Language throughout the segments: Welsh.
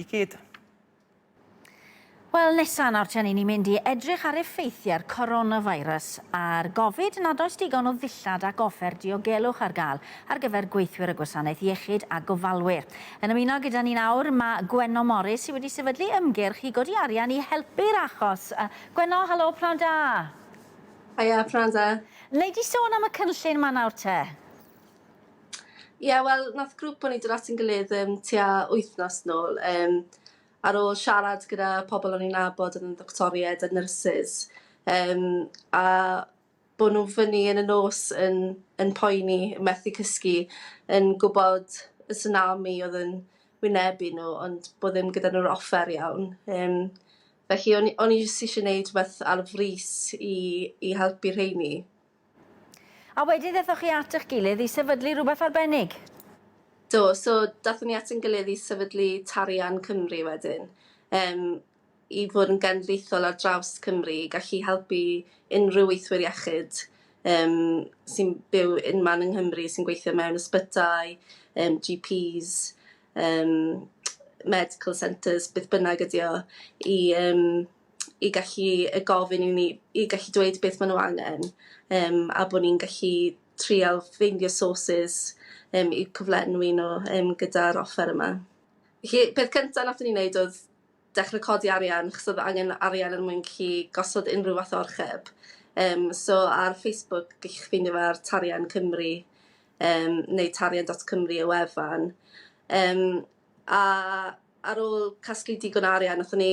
i gyd. Wel, nesa nawr te, 'yn ni'n mynd i edrych ar effeithiau'r coronavirus ar gofid nad oes digon o ddillad ac offer diogelwch ar gael ar gyfer gweithwyr y gwasanaeth iechyd a gofalwyr. Yn ymuno gyda ni nawr mae Gwenno Morris sydd wedi sefydlu ymgyrch i godi arian i helpu'r achos. Gwenno, helo, pnawn da! Haia, pnawn da. Wnei di sôn am y cynllun 'ma nawr te? Ie wel nath grŵp o'n i dod at ein gilydd yym tua wythnos nôl yym ar ôl siarad gyda pobol o'n i'n nabod o'dd yn ddoctoried a nyrsys yym a bo' nw fyny yn y nos yn yn poeni methu cysgu yn gwbod y tsunami o'dd yn wynebu nw ond bo' ddim gyda nw'r offer iawn yym felly o'n i o'n i jyst isie neud rwbeth ar frys i i helpu rheini. A wedyn ddathoch chi at eich gilydd i sefydlu rhywbeth arbennig? Do, so dathon ni at ein gilydd i sefydlu Tarian Cymru wedyn, yym, i fod yn genedlaethol ar draws Cymru i gallu helpu unrhyw weithwyr iechyd yym sy'n byw unman yng Nghymru sy'n gweithio mewn ysbytai, yym GPs, yym medical centres, beth bynnag ydi o, i yym i gallu yy gofyn i ni... i gallu dweud beth maen nhw angen yym a bod ni'n gallu trial ffeindio sources yym i cyflenwi nhw yym gyda'r offer yma. Felly peth cynta' nathon ni neud oedd dechre codi arian achos oedd angen arian er mwyn gallu gosod unrhyw fath o orcheb yym so ar Facebook gellwch chi ffeindio fe ar Tarian Cymru yym neu tarian dot cymru y wefan yym a ar ôl casglu digon o arian nathon ni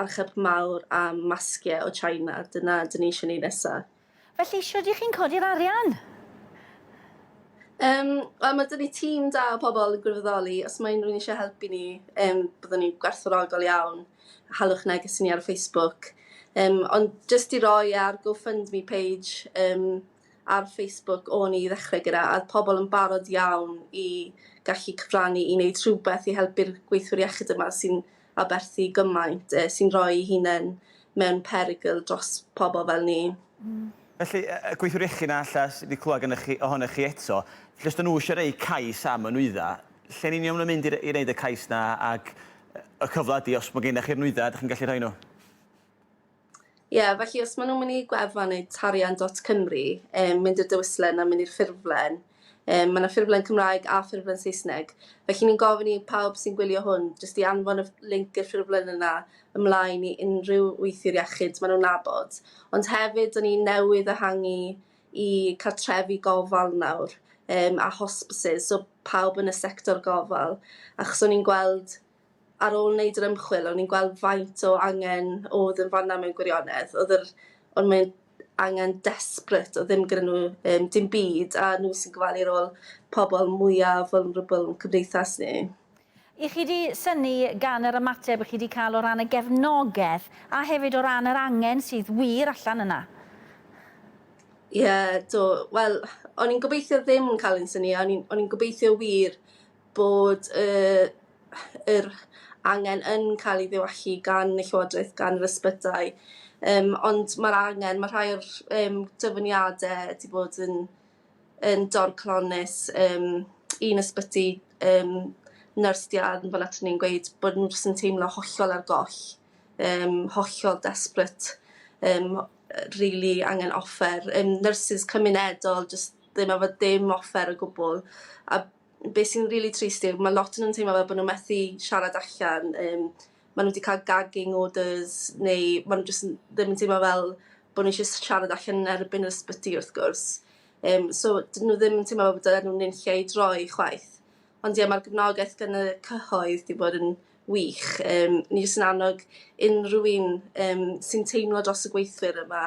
archeb mawr am masgiau o China, dyna dyn ni eisiau wneud nesaf. Felly, shwt y'ch chi'n codi'r arian? Um, wel, mae dyn ni tîm da o pobl yn gwirfoddoli. Os mae unrhyw'n eisiau helpu ni, um, byddwn ni'n gwerthfawrogol iawn. Halwch neges i ni ar Facebook. Um, ond jyst i roi ar GoFundMe page um, ar Facebook o'n i ddechrau gyda, a pobl yn barod iawn i gallu cyfrannu i wneud rhywbeth i helpu'r gweithwyr iechyd yma sy'n aberthu gymaint, sy'n rhoi'i hunain mewn perygl dros pobl fel ni. Felly, gweithiwr iechyd na alla, sydd wedi clywed gennych chi, ohonoch chi eto, lle os ydyn nhw eisiau rhoi cais am y nwyddau, lle'n union maen nhw'n mynd i wneud y cais yna ac y cyfle ydy, os mae gennych chi'r nwyddau, ydych chi'n gallu rhoi nhw? Ie, felly os maen nhw'n mynd i gwefan neu tarian dot Cymru, um, mynd i'r dewislen a mynd i'r ffurflen, um, mae yna ffurflen Cymraeg a ffurflen Saesneg. Felly ni'n gofyn i pawb sy'n gwylio hwn jyst i anfon y linc i'r ffurflen yna ymlaen i unrhyw weithiwr iechyd maen nhw'n nabod. Ond hefyd, dyn ni newydd ehangu i cartrefi gofal nawr um, a hospices, so pawb yn y sector gofal. Achos o'n i'n gweld ar ôl wneud yr ymchwil o'n i'n gweld faint o angen oedd yn fanna mewn gwirionedd oedd yr ond mae'n angen desperate o ddim gyda nhw um, dim byd a nhw sy'n gofalu'r ôl pobl mwyaf vulnerable yn cymdeithas ni. I chi wedi syni gan yr ymateb i chi wedi cael o ran y gefnogaeth a hefyd o ran yr angen sydd wir allan yna? Ie, yeah, do. Wel, o'n i'n gobeithio ddim cael ein syni, o'n i'n gobeithio wir bod y yr angen yn cael ei ddiwallu gan y Llywodraeth, gan yr ysbytai, yym ond mae'r angen, mae rhai o'r yym dyfyniadau wedi bod yn yn dorclonnus, yym un ysbyty yym nyrs 'di anfon aton ni yn gweud bod nhw jyst yn teimlo hollol ar goll, yym hollol desperate, yym rili angen offer, yym nyrsys cymunedol jyst ddim efo dim offer o gwbl a Be sy'n rili trist yw ma' lot o nhw'n teimlo fel bo' nw methu siarad allan yym ma' nw 'di ca'l gagging orders neu ma' nw jyst n- ddim yn teimlo fel bo' nw isie s- siarad allan yn erbyn yr ysbyty wrth gwrs yym so 'dyn nw ddim yn teimlo fel bo' dylen nw nunlle i droi chwaith. Ond ie ma'r gefnogaeth gan y cyhoedd 'di bod yn wych yym ni jyst yn annog unrhyw un yym sy'n teimlo dros y gweithwyr yma